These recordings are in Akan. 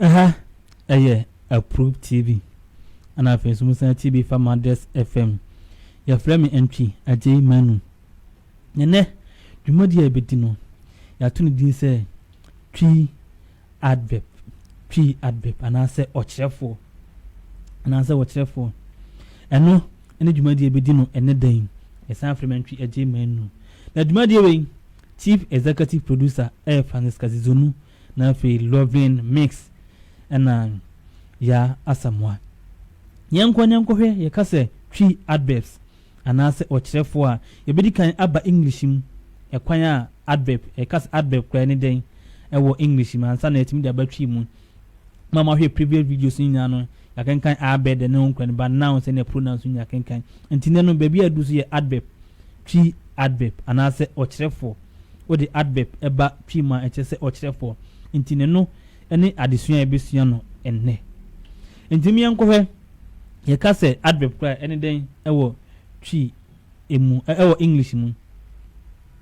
Ɛha yɛ Approved TV ɛna afei nso mosan ti bi fa Madres FM. Yɛfrɛ me Antwi Agyei Manu. Ɛnɛ dwumadi a yɛbɛdi no yɛato no din sɛ Twi Adverb, Twi Adverb anaasɛ ɔkyerɛfoɔ anaasɛ ɔkyerɛfoɔ. Ɛno ɛne dwumadi a yɛbɛdi no ɛnɛ da yi. Yɛsan frɛ me Antwi Agyei Manu. Na dwumadi wei Chief Executive Producer yɛ Francis Kazizonu na afei Lovin Mix na Yaa Asamoah. Yɛnkɔ na yɛnkɔhwɛ yɛka sɛ Twi adverbs anaasɛ ɔkyerɛfoɔ a, yɛbɛdi kan aba English mu ɛkwan a adverb, yɛka sɛ adverb koraa ɛne dɛn ɛwɔ English mu ansa na yɛatumi de aba Twi mu. Mo a moahwɛ previous videos no nyinaa no, yɛakenkan adverb de ne ho nkura no, but nouns ne pronouns no nyinaa kenkan. Nti nnɛ no, baabi a yɛadu so yɛ adverb, twi adverb, anaasɛ ɔkyerɛfoɔ. Wode adverb ba twi mu a, ɛkyerɛ sɛ ɔkyerɛfoɔ. Nti ne no ne adesua a yɛbɛsua no nnɛ. Nti mo yɛnkɔhwɛ, yɛka sɛ adverb koraa ɛne dɛn ɛwɔ twi mu, ɛwɔ English mu?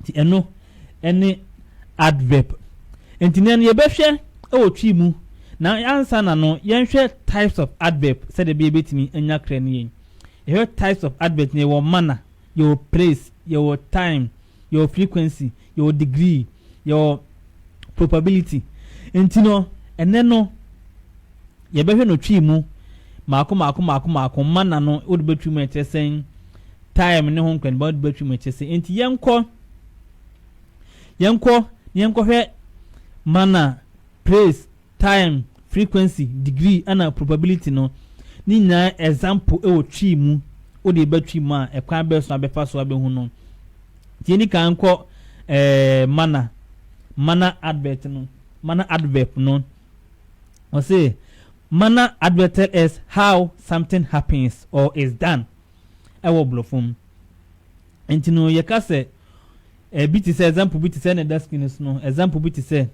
Nti ɛno ne adverb. Nti nnɛ no yɛbɛhwɛ wɔ Twi mu na ansa na no yɛnhwɛ types of adverb sɛdeɛ ɛbɛyɛ yɛbɛtumi anya kra no yie. Yɛhwɛ types of adverb no yɛwɔ manner, yɛwɔ place, yɛwɔ time, yɛwɔ frequency, yɛwɔ degree, yɛwɔ probability. Nti no ɛnnɛ no. Yɛbɛhwɛ no Twi mu maako maako maako maako, mana no wode bɛ Twi mu ɛkyerɛ sɛn, time ne ho nkɔniba wode bɛ Twi mu ɛkyerɛ sɛn. Nti yɛnkɔ, yɛnkɔ na yɛnkɔhwɛ mana, place, time, frequency, degree ɛna probability no ne nyinaa example ɛwɔ Twi mu wode bɛ Twi mu a ɛkwan bɛn so abɛfa so abɛhu no. Nti yɛni kan nkɔ ɛɛ mana, mana advert no, mana adverb no. Ɔse Mana adwɛ tell us how something happens or is done ɛwɔ brɔfo mu. Nti no yɛka sɛ ɛbi te sɛ example bi te sɛ na ɛda screen no so no example bi te sɛ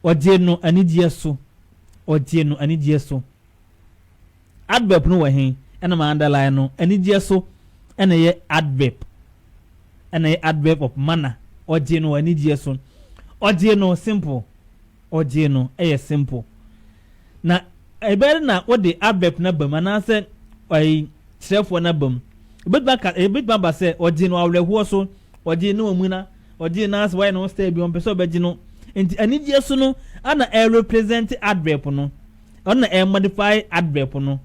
ɔgye no anigyeɛ so ɔgye no anigyeɛ so. Adverb no wɔ he? Ɛna ma underline no, anigyeɛ so na ɛyɛ adverb. Ɛna ɛyɛ adverb of manner. Ɔgyee no wɔ anigyeɛ so. Ɔgyee no, simple. Ɔgyee no yɛ simple. Na ɛbɛyɛ dɛ na wode adverb no aba mu anaasɛ ɛyi kyerɛfoɔ no aba mu. Ebɛtumi aka ebɛtumi aba sɛ ɔgyee no awerɛhoɔ so, ɔgyee no amuna, ɔgyee no asɛ wayɛ ne ho style bi ɔmpɛ sɛ ɔbɛgye no. Nti anigyeɛ so no ana ɛrepresent adverb no. ɔna ɛremodifai adverb no,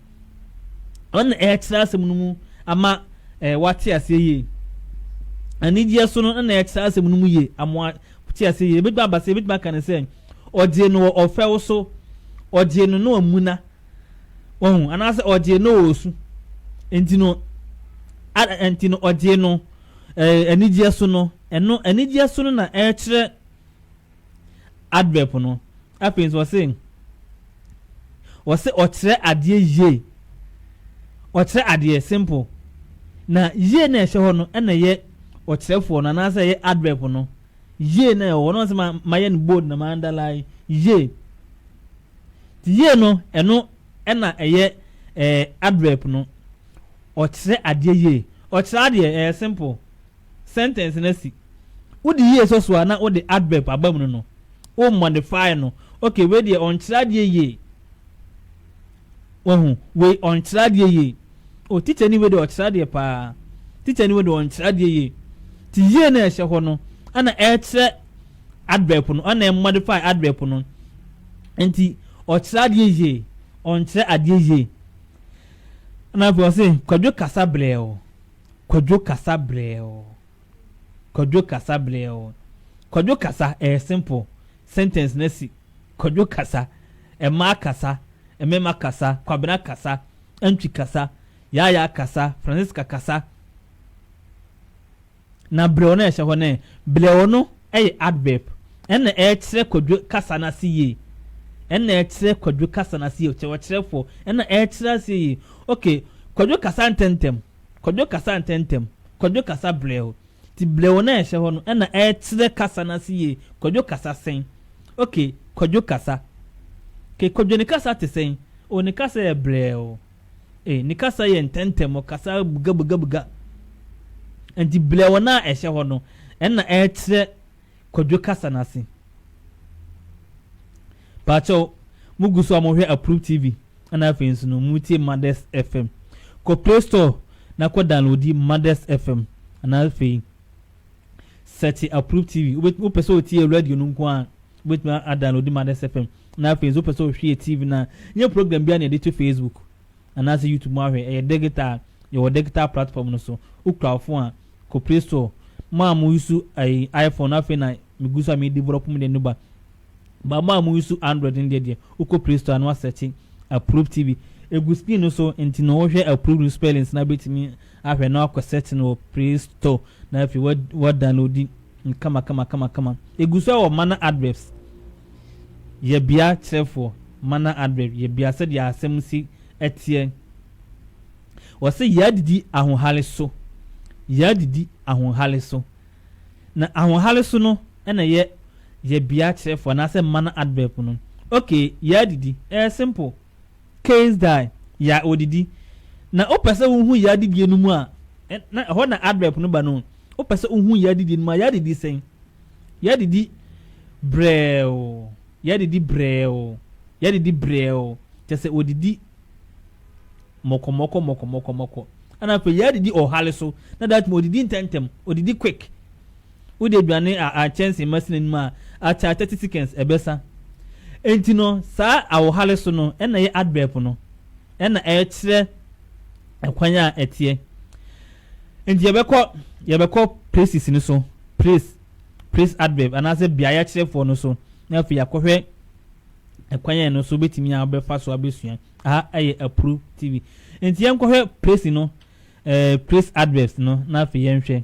ɔna ɛrekyerɛ asɛm no mu ama eh, wate aseɛ yie. Anigyeɛ so no na ɛkyerɛ asɛm no mu yie ama wate aseɛ yie. Ebɛtumi aba sɛ, ebɛtumi aka no sɛ, ɔgyee no wɔ ɔfɛw so, ɔgyee no na ɔmuna, wɔhu, anaasɛ ɔgyee no wɔ ɔsu. Nti no, nti no ɔgyee no eh, anigyeɛ so no, ɛno anigyeɛ so no na ɛrekyerɛ adverb no. Afei nso ɔse, ɔse ɔkyerɛ adeɛ yie. Ɔkyerɛ adeɛ simple. Na yie na ɛhyɛ hɔ no ɛna ɛyɛ ɔkyerɛfoɔ no anaasɛ ɛyɛ adverb no. Yie na ɛwɔ hɔ no ɔse ma mayɛ no bold na ma underline yie. Ti yie no ɛno ɛna ɛyɛ ɛɛ adverb no. Ɔkyerɛ adeɛ yie. Ɔkyerɛ adeɛ ɛyɛ simple. sɛntɛnse no asi. Wode yie sɔ so a na wode adverb aba mu no no, wo modify no. Ok, wei deɛ ɔnkyerɛ adeɛ yie. Wahu, wei ɔnkyerɛ adeɛ yie. O, teacher ni wei deɛ ɔkyerɛ adeɛ paa. Teacher ni wei deɛ ɔnkyerɛ adeɛ yie. Ti yie na ɛhyɛ hɔ no, ɛna ɛkyerɛ adverb no, ɛna ɛmodify adverb no. Nti, ɔkyerɛ adeɛ yie, ɔnkyerɛ adeɛ yie. Na afei ɔse, kwadwo kasa brɛɛ o. Kwadwo kasa brɛɛw Kwadwo kasa brɛɛw Kwadwo kasa ɛyɛ simple Sentence no asi Kwadwo kasa Mmaa kasa Mmarima kasa Kwabena kasa Antwi kasa Yaayaa kasa Francisca kasa Na brɛɛw no a ɛhyɛ hɔ no ɛ? Brɛɛw no. Ɛyɛ adverb. Ɛna ɛkyerɛ Kwadwo kasa no ase yie. Ɛna ɛkyerɛ Kwadwo kasa no ase yie. Kyɛ ɔkyerɛfoɔ. Ɛna ɛkyerɛ aseɛ yie. Ok, Kwadwo kasa ntɛntɛm. Kwadwo kasa ntɛntɛm. Kwadwo kasa brɛoo. Nti brɛoo no a ɛhyɛ hɔ no, ɛna ɛkyerɛ kasa no ase yie. Kwadwo kasa sɛn? Ok, Kwadwo kasa. Ok, Kwadwo ne kasa te sɛn? O, ne kasa yɛ brɛoo. Ee, ne kasa yɛ ntɛmntɛm, ɔkasa bugabugabuga. Enti blɛ wɔn a ɛhyɛ hɔ no, ɛna ɛrekyerɛ Kwadwo kasa no ase. Paakyɛw, mogu so a mohwɛ Approve TV, ɛna afei nso no motie Mothers FM. Kɔ Play Store na kɔ downloadi Mothers FM, ɛna afei sɛkye Approve TV. Wobɛtumi, wopɛ sɛ otie radio no nko a, Wobɛtumi ada no Odum Adesɛ fam. Na afei nso wopɛ sɛ wohwie TV no a, nyɛ program biara na yɛde to Facebook anaasɛ YouTube mu ahwɛ. Ɛyɛ digital a, yɛwɔ digital platform no so. Wokura wo fon a, kɔ Play Store. Mo a mo yusu ayi iPhone no afei na megu so a me develop me deɛ no ba. Ba mo a mo yusu Android no deɛ deɛ, wokɔ Play Store a na wasɛkye Approved TV. Egu screen no so, nti na wohwɛ Approved no spellings na wobɛtumi ahwɛ na wɔakɔsɛte no wɔ Play Store na afei wa wɔadownloadi no kamakamakamakama. Ɛgu so ara wɔ Mana Adwebs yɛbea kyerɛfoɔ, Mana Adweb yɛbea sɛdeɛ asɛm si teɛ. Wɔse yɛadidi ahohare so, yɛadidi ahohare so. Na ahohare so no na ɛyɛ yɛbea kyerɛfoɔ anaasɛ Mana Adweb no. Okay, yɛadidi, ɛyɛ simple. Kaesdae yɛ a wɔdidi. Na wopɛ sɛ wohu yɛ adidie no mu a, na ɛhɔ na Adrep no ba no. Wopɛ sɛ wohu yɛ adidie no mu a, yɛadidi sɛn? Yɛadidi brɛɛo, yɛadidi brɛɛo, yɛadidi brɛɛo. Kyɛ sɛ wɔdidi mɔkɔmɔkɔ mɔkɔmɔkɔmɔkɔ. Ɛna afei yɛadidi ɔhale so, na that means wɔdidi ntɛmntɛm, wɔdidi quick. wode dwane a a kyɛnse ma sini no mu a akyɛ thirty seconds ɛbɛsa enti no saa awohare so no ɛna ɛyɛ adverb no ɛna ɛkyerɛ ɛkwan a ɛteɛ enti yɛbɛkɔ yɛbɛkɔ places no so place place adverb anaasɛ beaeɛ akyerɛfoɔ no so na afei yɛakɔhwɛ ɛkwan yɛn no so bɛtumi a bɛfa so abɛsua aha ɛyɛ apuro tv nti yɛnkɔhwɛ place no ɛɛ eh, place adverbs no na afei yɛnhwɛ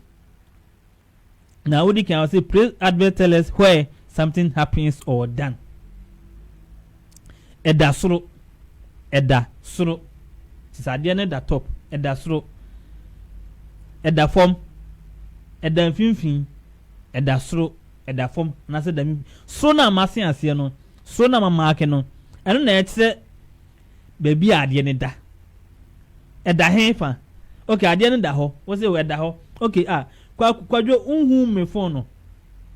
Na odi kan ɔsi praise advert tell us where something happens or done. Ɛda soro. Ɛda soro. Sisi adeɛ no da top. Ɛda soro. Ɛda fam. Ɛda mfimfini. Ɛda soro. Ɛda fam. Anaasɛ ɛda mfimfini. Soro no a mase aseɛ no, soro no a mamaake no, ɛno na ɛkyerɛ baabi a adeɛ no da ɛda he fa ok adeɛ no da hɔ wọ́n sɛ ɛda hɔ ok a ah, kwadwo nhu me fon no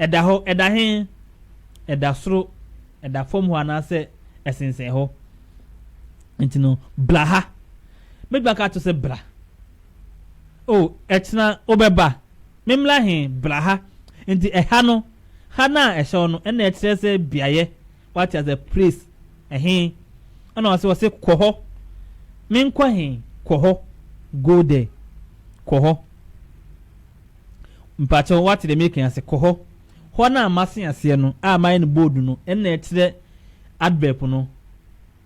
ɛda hɔ ɛda he ɛda soro ɛda fam hɔ anaasɛ ɛsensɛn hɔ nti no bla ha mɛtumi aka ato sɛ bla o oh, ɛkyena wobɛba memla he bla ha nti ɛha no ha no a ɛhyɛw no ɛna ɛkyerɛ sɛ beaeɛ Wate ase please ɛhe ɛna ɔse ɔse kɔ hɔ menkɔ he kɔ hɔ go there kɔ hɔ mpakyɛw wate deɛ meka ase kɔ hɔ hɔ no a mase aseɛ no a mayɛ no bold no ɛna ɛkyerɛ adverb no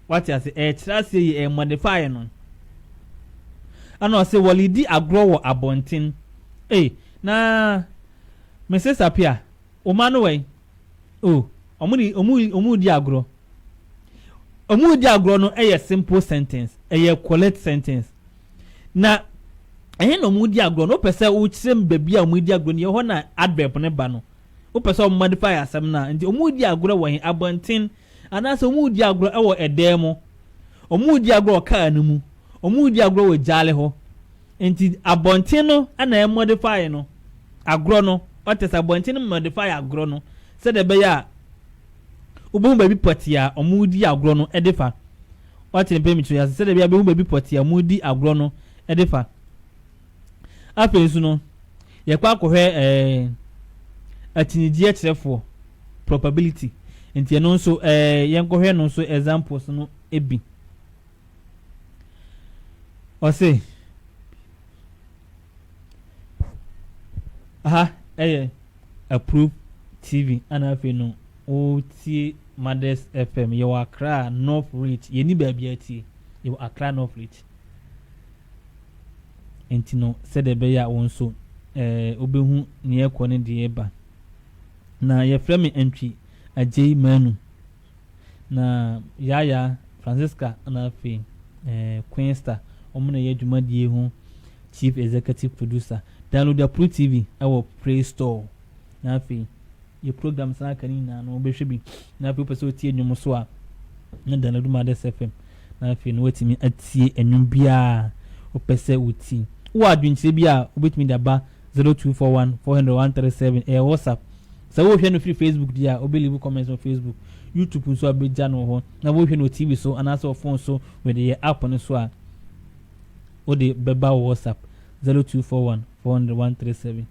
wate ase ɛkyerɛ aseɛ yi ɛyɛ modify no ɛna ɔse wɔledi agorɔ wɔ abɔnten ee na me sister pia ɔma no wɛn Oh, ɔmo de ɔmo ɔmo redi agorɔ. Ɔmo redi agorɔ no yɛ simple sentence, ɛyɛ collect sentence. Na ɛhe na ɔmo redi agorɔ no? Wopɛ sɛ wokyerɛ mu baabi a ɔmo redi agorɔ no yɛ hɔ na adverb no ba no. Wopɛ sɛ ɔmo modify asɛm no a, nti ɔmo redi agorɔ wɔ he? Abɔnten. Anaasɛ ɔmo redi agorɔ wɔ ɛdan mu. Ɔmo redi agorɔ wɔ kaa no mu. Ɔmo redi agorɔ wɔ gyaale hɔ. Nti abɔnten no na yɛ modify no agorɔ no wate sɛ abɔnten no modify agorɔ no sɛdeɛ ɛbɛyɛ a wobɛhu baabi pɔtee a wɔredi agorɔ no de fa wate ne pɛ mekyerɛ ase sɛdeɛ ɛbɛyɛ a bɛhu baabi pɔtee a wɔredi agorɔ no de fa afei nso no yɛkɔ akɔhwɛ ɛɛ eh, akyinnyegyeɛ kyerɛfoɔ probability nti ɛno nso ɛɛ eh, yɛnkɔhwɛ no nso examples no bi. Ɔse, ha yɛ Approve TV ana afei no wotie Mothers FM yɛwɔ Accra North Reach yɛni baabi atie yɛwɔ Accra North Reach nti no sɛdeɛ ɛbɛyɛ a wo nso eh, wobɛhu nea ɛkɔ ne deɛ ɛba na yɛfrɛ me ntwi agyei manu na Yaya, Franziska na afei eh, Queen Star, wɔn na ɛyɛ dwumadie ho Chief Executive Producer. Download Apuru TV wɔ Play Store na afei yɛ programs na aka no nyinaa no wobɛhwɛ bi na afei wopɛ sɛ wotie nnwom so a na download Mades FM na afei no woatumi atie nnwom biara wopɛ sɛ wotie. Wowɔ adwenkyerɛ bi a wobɛtumi de aba Zero two four one four hundred one three seven ɛyɛ WhatsApp. Sɛ wohwɛ no firi Facebook deɛ a, obe livu comments wɔ Facebook. YouTube nso a obe gya no wɔ hɔ. Na wohwɛ no wɔ TV so anaasɛ wɔ phone so with yɛ app no so a, wode bɛba wɔ WhatsApp. Zero two four one four hundred one three seven.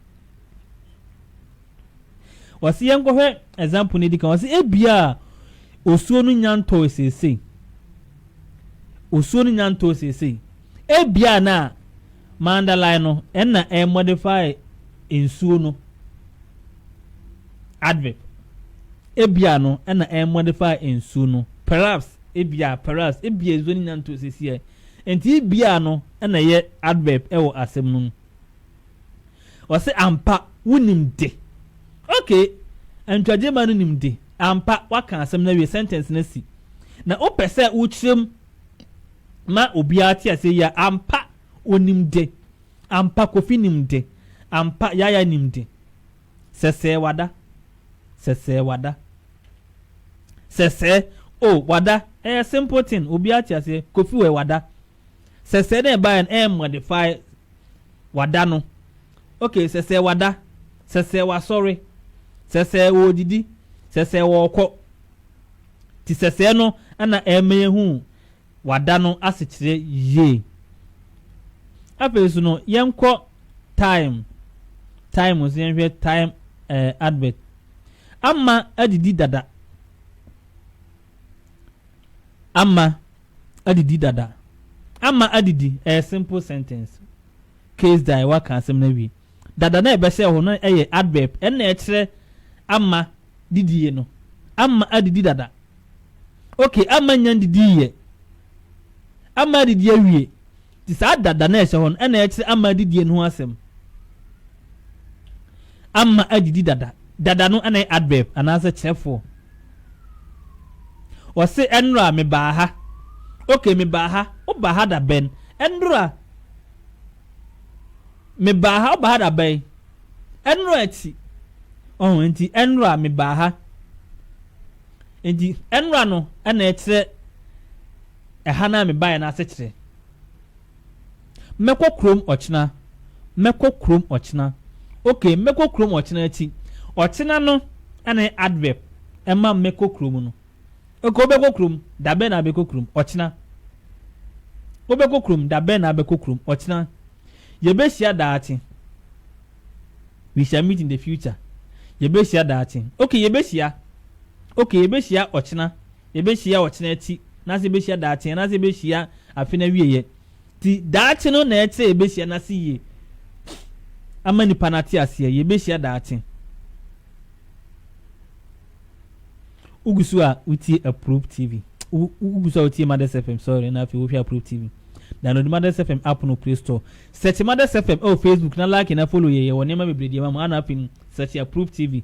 Ɔse yɛnkɔhwɛ example no edi kan. Ɔse ebia osuo no nya ntɔe seesei. Osuo no nya ntɔe seesei. Ebia na Mandalay no ɛna ɛ modify nsuo no adverb. Ebia no ɛna ɛ modify nsuo no. Perhaps ebia perhaps ebia nsuo no nya ntɔe seesei. Nti ebia no ɛna yɛ adverb ɛwɔ asɛm no mu. Ɔse ampa wonim de okay Antwadeɛ mma no nim de ampa waka asɛm no awie sentence no asi na wopɛ sɛ wokyerɛ mu ma obiara te aseɛ yie a ampa onim de ampa Kofi nim de ampa Yaya nim de sɛsɛɛ wada sɛsɛɛ wada sɛsɛɛ oh wada ɛyɛ simple thing obiara te aseɛ Kofi wɛ wada Sɛ sɛɛ na ɛbaeɛ no, ɛɛ modify wada no. Ok, sɛ sɛɛ wada, sɛ sɛɛ wasɔre, sɛ sɛɛ wɔredidi, sɛ sɛɛ wɔrekɔ. Ti sɛ sɛɛ no na ɛma yɛhu wada no asekyerɛ yie. Afei so no, yɛnkɔ time. Time nso yɛnhwɛ time eh, advert. Ama adidi dada. Ama Adidi dada. Ama adidi ɛyɛ simple sentence. Case die, woaka asɛm no awie. Dada no a ɛbɛhyɛ hɔ no yɛ adverb. Ɛnna ɛkyerɛ ama didie no. Ama adidi dada. Okay, ama nyan didiiɛ. Ama adidi awie. Nti saa dada no a ɛhyɛ hɔ no na ɛkyerɛ ama adidie no ho asɛm. Ama adidi dada. Dada no na ɛyɛ adverb anaasɛ kyerɛfoɔ. Ɔse ɛnora a mebaa ha. Okay, mebaa ha. Wobaa ha da bɛn? Ɛnora mebaa ha. Wobaa ha da bɛn? Ɛnora akyi. Ɔho nti ɛnora mebaa ha. Nti ɛnora no na ɛkyerɛ ɛha no a mebaeɛ no ase kyerɛ. Mɛkɔ kurom ɔkyena. Mɛkɔ kurom ɔkyena. Okay, mɛkɔ kurom ɔkyena ti. Ɔkyena no ne adverb ɛma mɛkɔ kurom no. Okay, wobɛkɔ kurom. Da bɛn na wobɛkɔ kurom? Ɔkyena. Wobɛkɔ kurom. Da bɛn na wobɛkɔ kurom? Ɔkyena. Yɛbɛhyia daakye. We shall meet in the future. Yɛbɛhyia daakye. Okay, yɛbɛhyia. Okay, yɛbɛhyia ɔkyena. yebehyia ɔkyena akyi, anaasɛ yebehyia daakye, anaasɛ yebehyia afe no awieeɛ. Nti daakye no na ɛkyerɛ yebehyia no ase yie ama nipa no ate aseɛ, yebehyia daakye. Wogu so a wotie Approve TV. Wogu so a wotie Mothers FM, sorry, na afei wohwɛ Approve TV. Download Mothers FM app no Play Store. Search Mothers FM ɛwɔ Facebook na like na follow yɛ yɛ wɔ nneɛma bebree deɛ ma mu ana afei no search Approve TV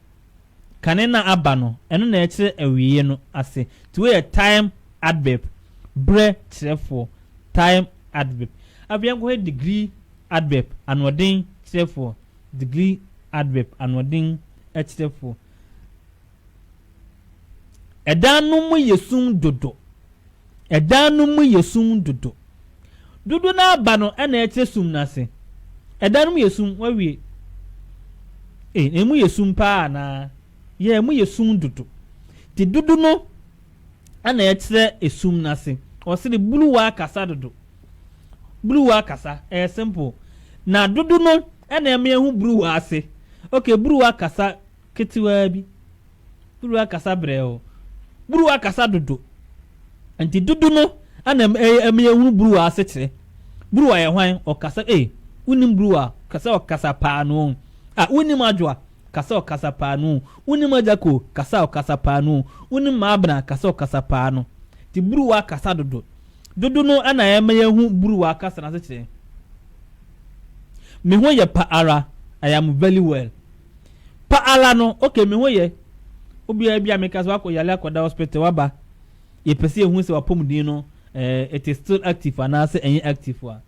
kane na aba no, ɛno na ɛkyerɛ awieɛ no ase. Nti wei yɛ time adverb, berɛ kyerɛfoɔ, time adverb. Afei yɛnkɔhwɛ degree adverb, anoɔden kyerɛfoɔ, degree adverb, anoɔden kyerɛfoɔ. Ɛdan no mu yɛ sum dodo. Dan no mu yɛ sum dodo. Dodo no ara ba no na ɛkyerɛ sum no ase. Dan no mu yɛ sum, wawie. Ei, na emu yɛ sum paa anaa? Yɛ emu yɛ sum dodo. Nti dodo no na ɛkyerɛ esum no ase. Ɔse de buluwa akasa dodo. Buluwa akasa, ɛyɛ simple. Na dodo no na ɛma yɛhu buluwa ase. Okay, buluwa akasa. Ketewaa bi. Buru akasa brɛoo. Buru akasa dodo. Nti dodo no na ɛma yɛhunu buru a asekyerɛ. Buru a yɛ hwan? Ɔkasa ei, wonim buru a, ka sɛ ɔkasa paanoo. A, wonim adwo a, ka sɛ ɔkasa paanoo. Wonim agyako, ka sɛ ɔkasa paanoo. Wonim maabena, ka sɛ ɔkasa paano. Nti buru akasa dodo. Dodo no na ɛma yɛhu buru akasa no asekyerɛ. Me ho yɛ pa ara, I am very well. Pa ara no, okay, me ho yɛ. Obiara bi a meka sɛ wakɔ yare akɔda hospital, waba, yɛpɛ sɛ yɛhu sɛ wapɔmuden no, eh, it is still active anaasɛ ɛnyɛ active a.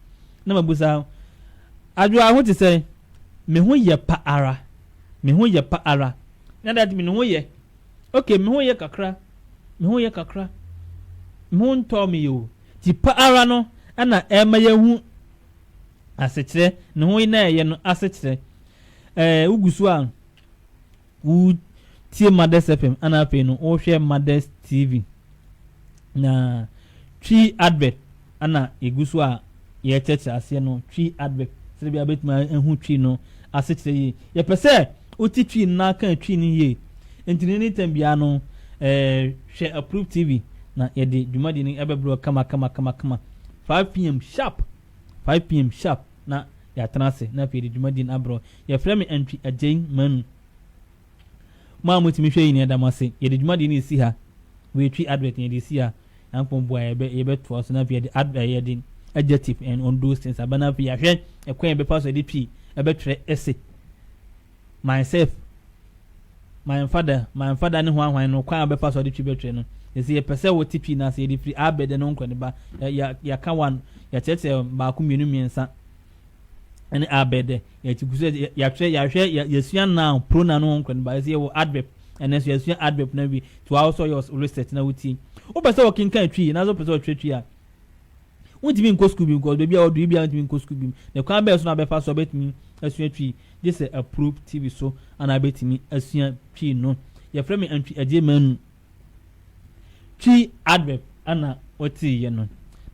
Na mabusa, Adwoa, ho te sɛ? Me ho yɛ pa ara. Me ho yɛ pa ara. Na dɛ me ne ho yɛ. Okay, me ho yɛ kakra. Me ho yɛ kakra. Me ho ntɔɔ me yɛ o. Ti pa ara no, ɛna ɛma yɛhu asekyerɛ, ne ho na ɛyɛ no asekyerɛ. Ɛɛ wogu so a wotie Mothers FM ana afei no wohwɛ Mothers TV. Na twi advert ana egu so a yɛkyerɛkyerɛ aseɛ no twi advert sɛdeɛ bi a bɛtumi ahu twi no asekyerɛ yie. Yɛpɛ sɛ wote twi no na ka twi no yie. Nti ne ne tam biara no ɛɛ hwɛ Approve TV na yɛde dwumadi no ɛbɛbrɛ kama kama kama kama. Five PM sharp! Five PM sharp! Na yɛatena ase na afei yɛde dwumadi no abrɛ wo. Yɛfrɛ me Antwi Agyei Manu. Mo a motumi hwɛ yi na yɛda mo ase. Yɛde dwumadi no resi ha. Wei Twi advert na yɛde resi ha. Nyankopɔn boa yɛbɛ yɛbɛtoa so na afei yɛde ad eh, yɛde adjective and on those things aba na afei yɛahwɛ ɛkwan a yɛbɛfa so de Twi ɛbɛtwerɛ ese. Myself, My Father, My Father ne Hwan Hwan no kwan a wobɛfa so a wode twi bɛtwerɛ no. Ɛsɛ yɛpɛ sɛ wote twi no ase. Yɛde firi A bɛdɛ no nkɔ ne ba. Yɛaka one, yɛkyerɛkyerɛ baako mmienu mmiɛnsa ɛne A bɛdɛ. Yɛkyegu so yɛatwerɛ yɛahwɛ yɛsua noun pronoun no nkɔ ne ba. Ɛsɛ yɛwɔ adverb ɛnɛ nso yɛsua adverb no awie. To a wosɔ yɛ research na wotie. Wopɛ sɛ wɔkenkan twi na sɛ wopɛ sɛ wɔtwerɛ twi a. Wontumi nkɔ sukuu biom, beebi a wɔdue biara wontumi nkɔ sukuu biom. Na kwan bɛn so na bɛfa so a wobetumi asua Twi? Gye sɛ Apuro TV so na wobetumi asua Twi no. Yɛfrɛ me Antwi Agyemanu. Twi adverb na woteeɛ no.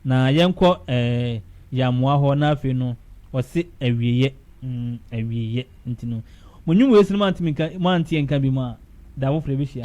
Na yɛnkɔ ɛɛ Yamoa hɔ na afei no ɔse awieeɛ. Mm, awieeɛ. Nti no, mo nnwom wei so no moantumi nka, moanteɛ nka biom a, da foforɔ yɛbɛhyia.